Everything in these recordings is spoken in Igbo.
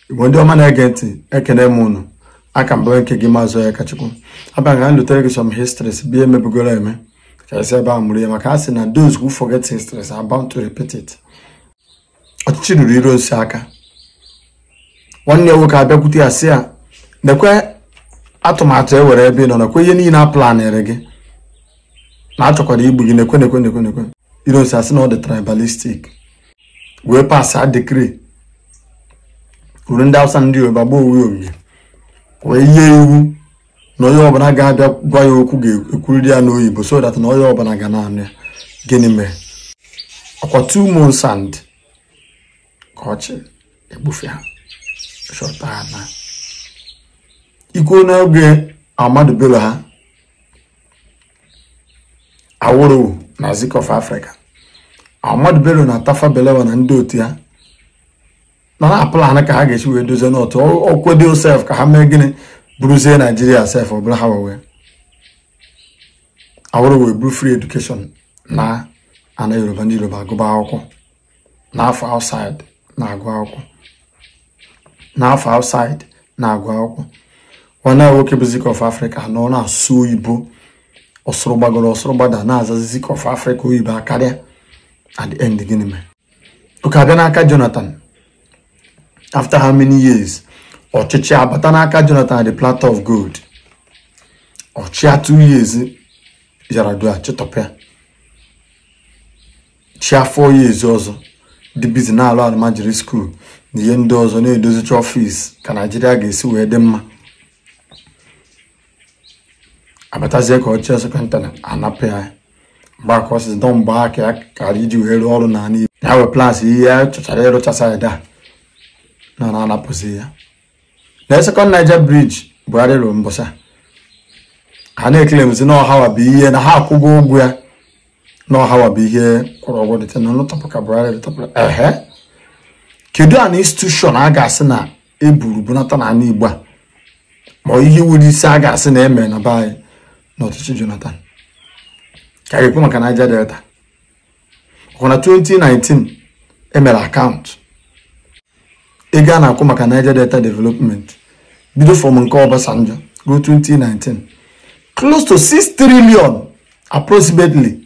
igbo ndị ọma na-ege ntị ekene m ụnụ a ka m bụ nke gị Mazị Onyekachukwu abịa ka ndotere gị some histories bi emebugoro eme karịsị ebe a mụrụ ya maka a sị na those who forget histories are bound to repeat it ọchịchị ruru Ironsi aka nwanne ya nwoke abịakwute ya sị ya nekwe atụmatụ e nwere ebe ị nọ nekwe ihe niile a planịrị gị na a chọkwara igbu gị nekwe nekwe nekwe nekwe Ironsi asị na ọ dị tribalistic wee pass a decree were ndị awụsa ndị yoruba gbaa onwe ya wee nye iwu na onye ọbụla ga-abịa gwa ya okwu ga-ekwuriri ya n'oyibo so that na onye ọbụla ga na-anụ ya gịnị mere ọkwa two months and ka ọ chị egbufe ya site na coup n'oge Ahmadu Bello ha Awolowo na Zik of Africa Ahmadu Bello na Tafa Balewa na ndị otu ya nọ na plan ka ha ga-esi wee dozie North o kwedo sef ka ha mee gịnị buruzie Naijiria sef ọ bụrụ ha nwe Awolowo eburu free education na ana Yoruba ndị Yoruba agụba akwụkwọ na-afụ outside na-agụ akwụkwọ na-afụ outside na-agụ akwụkwọ nwanne ya nwoke bụ Zik of Africa nọ na-asụ oyibo ọ sụrụ gbagoro ọ sụrụ gbada na-azazi Zik of Africa oyibo akarịa at the end gịnị mere okay a bịa n'aka Jonathan after how many years ọchịchị abata n'aka Jonathan at the platter of gold ọ chịa two years Yaradua chịtọpịa chịa four years ọzọ dị busy na-alụ almajiri school na ihe ndị ọzọ na-edozicha ọfịs ka naijiria ga-esi wee dị mma abatazie ka ọ chị second term a napụ ya mgbe aka ọsịs dọ mgbe aka ya kara iji wee rụọ ọrụ n'ala Igbo ya wee plus ihe ya chọchara ịrụchasa ya da na na-anapụzi ya na Second Niger Bridge Buhari rụrụ mbọsa ha na-eclaimzi na ọhawa bụ ihe na ha akwụgo ụgwọ ya na ọhawa bụ ihe kwụrụ ụgwọ dịte na ụlọ tọpụ ka Buhari dịtọpụrụ ehe kedu an institution a ga-asị na eburu bunata na ala Igbo a ma ihe nwere isi a ga-asị na eme na be anyị n'ọchịchị Jonathan ka a ga-ekwu maka Niger Delta ọkwa na 2019 emere account ego a na-akwụ maka Niger Delta Development bido from nke Obasanjo ruo 2019 close to 6 trillion approximately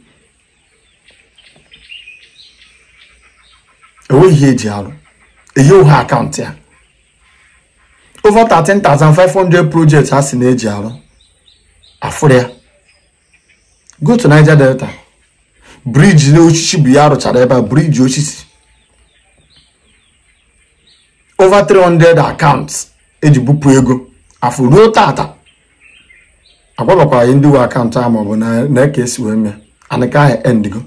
enweghị ihe eji arụ enyeghị account ya over 13,500 projects a sị na eji arụ afụrọ ya go to Niger Delta briji na osisi bụ ya rụchara ebe a briji osisi over 300 accounts eji bupụ ego afụ ruo tata agwabekwa anyị ndị nwe akaụntụ a maọbụ na ka esi wee mee anaka ahụ endigo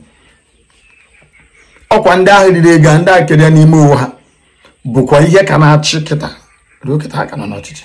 ọkwa ndị ahụ riri ego ndị a keria n'ime onwe ha bụkwa ihe ka na-achị kịta ruo kịta ha ka nọ n'ọchịchị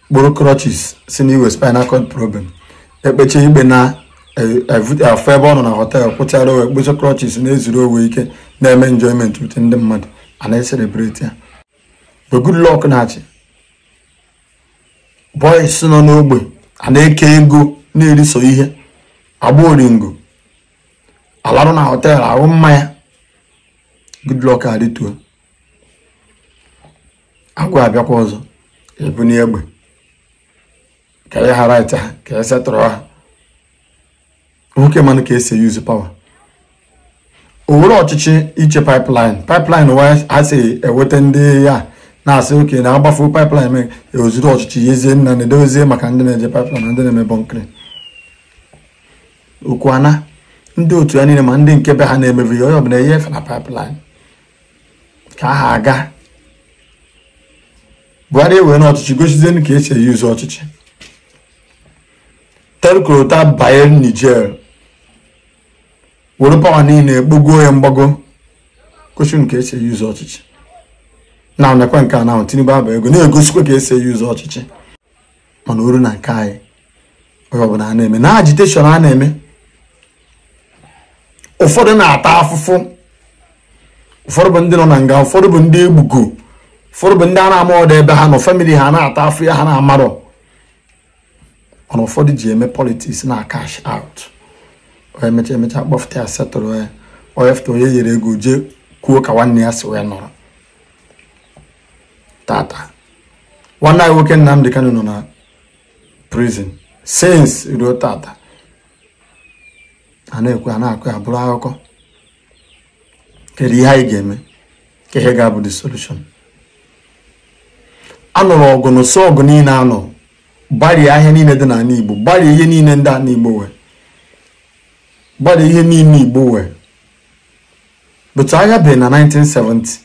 kpụrụ crutches sị na ya nwe spinal cord problem ekpecha ikpe a na-afụ ya ebe ọ nọ na họtel kwụchara onwe ekpecha crutches na-ezuru onwe ike na-eme enjoyment with ndị mmadụ a na-eselebreti ya ebe Goodluck na-achị boys nọ n'ogbe a na-eke ego na-eri sọ ihe agba oringo alarụ na họtel aṅụ mmanya Goodluck alịtuo agwa abịakwa ọzọ ebunie egbe ka e nye ha right ha ka e setụrụ ha nwoke manụ ka esi yuzu pawa o were ọchịchị iche pipeline pipeline wa ha si eweta ndị ya na-asị oke na agbafu pipeline mee ozuru ọchịchị nyezie nna na edozie maka ndị na-eje pipeline na ndị na-eme bọnkịrị ọkwa ya na ndị otu ya niile ma ndị nke be ha na-emebi ya onye ọbụla enye efe na pipeline nke ahụ agaa buhari ewerenụ ọchịchị gosizienụ ka esi eyuzu ọchịchị telkorota banye niger were pawa niile bugo ya mgbago gosinụ ka esi eyuzu ọchịchị nenekwa nke a na tinubu abago na-egosikwa ka esi eyuzu ọchịchị mana o ruo na nke anyị onye ọbụla a na-eme na agitation a na-eme ụfọdụ na-ata afụfụ ụfọdụ bụ ndị nọ na nga ụfọdụ bụ ndị egbugo ụfọdụ bụ ndị a na-amarọdụ ebe ha nọ famili ha na-ata afụfụ ha na-amarọ mana ụfọdụ ji eme politiks na cash out onye mecha emecha kpọfụta ya setụrụ onye onye fụta onye nyere ego jee kwuo ka nwanne ya si wee nọrọ tata nwanne anyị nwoke Nnamdi Kanu nọ na prison since ruo tata a na-ekwu a na-akọ ya bụrụ akụkọ kedu ihe anyị ga-eme ka ihe ga-abụ the solution anụrụ ọgụ na ụsọ ọgụ niile anọ gbarie ahịa niile dị n'ala Igbo gbarie ihe niile dị n'ala Igbo wee gbarie ihe niile Igbo nwee but agha bie na 1970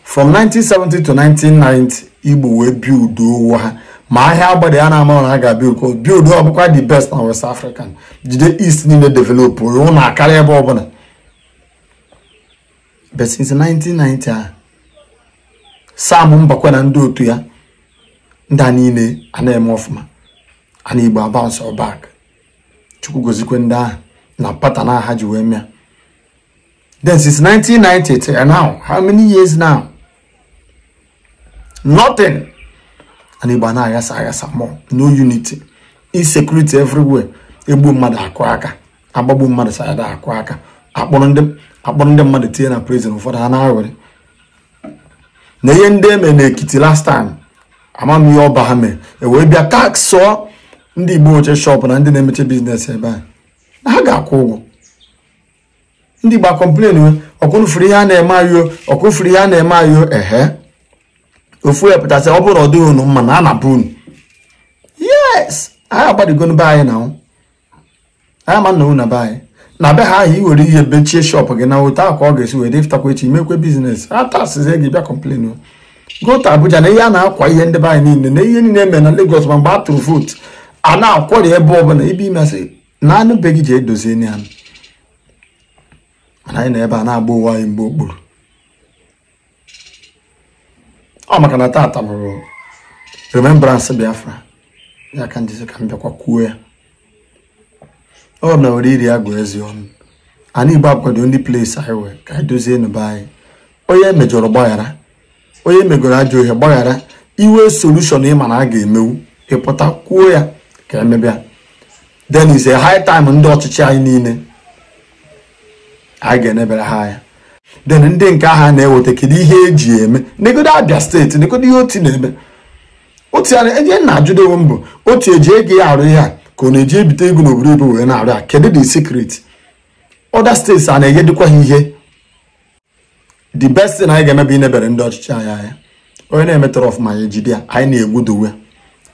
from 1970 to 1990 igbo wee build onwe ha ma ahịa agbada ya na-ama na ha ga-abịa uko build ọ bụkwa the best na west african jide east niile develop ụlọ na akarịa ebe ọbụla but since 1990 a sam mbakwe na ndị otu ya ndị a niile a na-eme ọfụma ana igbo abounce back chukwu gozikwe ndị ahụ na pattern ha ji wee mee ya then since 1990 till now how many years now nothing and Igbo a na-aghasa aghasa more no unity insecurity everywhere egbu mmadụ akụ aka agbagbu mmadụ side a akụ aka akpọrọ ndị akpọrọ ndị mmadụ tinye na prison ụfọdụ a na-aṅụrị na ihe ndị eme n'Ekiti last time ama m ihe ọba ha mere ewee bịa taxụọ ndị Igbo nweche shop na ndị na-emeche business ebe a na ha ga-akwụ ụgwọ ndị Igbo a complainwe ọkwa unu fụrụ ihe a na-eme anyị o ọkwa unu fụrụ ihe a na-eme anyị o ehe ofu onye apụta sị ọ bụrụ na ọ dịghị unu mma naa naa be unu yes anyị agbadigo n'be anyị na anyị ma na na be anyị na be ha ahụ iwere ihe mechie shop gị na otu akwa ọ ga-esi wee pụtakwa echi mekwe business ataxzie gị ị bịa complain go to Abuja na ihe a na-akwa ihe ndị be anyị niile na ihe niile eme na Lagos ma mgbe a tụrụ vootu a na-akwọrị ebe ọbụla i bi imesịa naa nụ be gị je dozie ya mana anyị nọ ebe a na-agba onwe anyị mgba okpuru ọ maka na tata bụrụ remembrance biafra ya ka m ji sị ka m bịakwa kwuo ya ọ na were ire agụ eze ọnụ anị igbo bụkwadụ only place anyị nwee ka anyị dozie nụ be anyị onye mejọrọ gbaghara onye megoro ajọ ihe gbaghara i nwee solution ị ma na a ga-emenwu ị pụta kwuo ya ka emebe ya then is a high time ndị ọchịchị anyị niile anyị ga-enebere ha anya then ndị nke ahụ na-eweta kedu ihe eji eme negodo Abia state negodo ihe Otti na-eme otu ya na-enye m na-ajụdo onwe m bụ Otti o ji ego ya arụ ihe a ka ọ na-eje ebite ego n'obodo oyibo wee na-arụ ya kedu the secret other states a na-enyedịkwa ha ihe the best thing anyị ga-eme bụ inebere ndị ọchịchị anyị anya onye na-emetarọ ọfụma anyị jide ya anyị na-egwudowe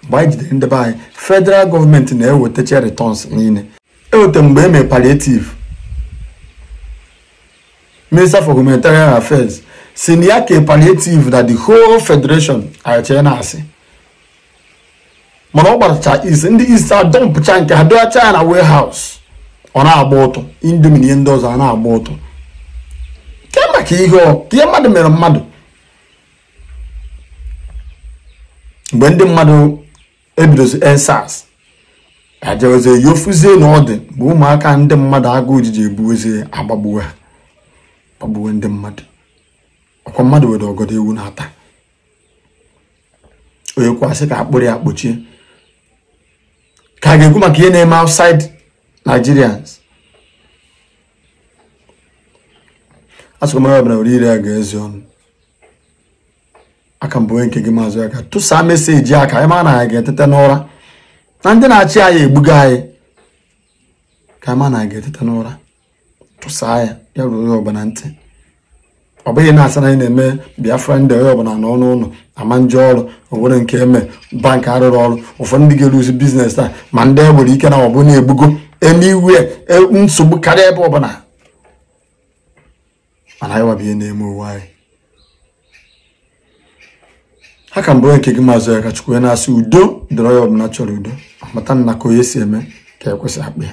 mgbe anyị jidere ndị be anyị federal government na-ewetacha returns niile eweta mgbe e mere palliative minister for humanitarian affairs sị na ya kee palliative na the whole federation anyị eche na asị mana ọ gbarucha East ndị East adumpụcha nke ha dọwacha ya na warehouse ọ na-agba ụtụ Indomie na ihe ndị ọzọ a na-agba ụtụ ke maka ihe ọkwa ihe mmadụ mere mmadụ mgbe ndị mmadụ ebidozi EndSARS ejewezie ya afụzie na ọ dị mgbe ụmụaka ndị mmadụ agụụ ji je ebuwezie agbagbuwe ha gbagbuwe ndị mmadụ ọkwa mmadụ were ọgọdọ ewu na-ata onye kwesị ka a kpụrụ ya kpọchie ka a ga-ekwu maka ihe na-eme outside Nigerians asụkwa mara ọbụla were ire a ga-ezi ọnụ a ka m bụ onye nke gị maazị Aka tụsaa meseji a ka anyị ma na anyị ga-eteta n'ụra na ndị na-achị anyị egbuga anyị ka anyị ma na anyị ga-eteta n'ụra tụsaa ya ya ruo onye ọbụla ntị ọ bụghị na a sị na anyị na-eme biafra ndị onye ọbụla nọ n'ụlọ a ma eje ọrụ o nwere nke eme bank arụrụ ọrụ ụfọdụ ndị ga-eluzi biznes taa ma ndị e nwere ike na ọ bụ na-egbugo eme iwe e, nsogbu karịa ebe ọbụla mana anyị wa bụ ihe na-eme onwe anyị a ka m bụ onye nke gị maazị Akachukwu na-asị udo dịrị onye ọbụla chọrọ udo a mata na ka onye si eme ka e kwesị akpa ya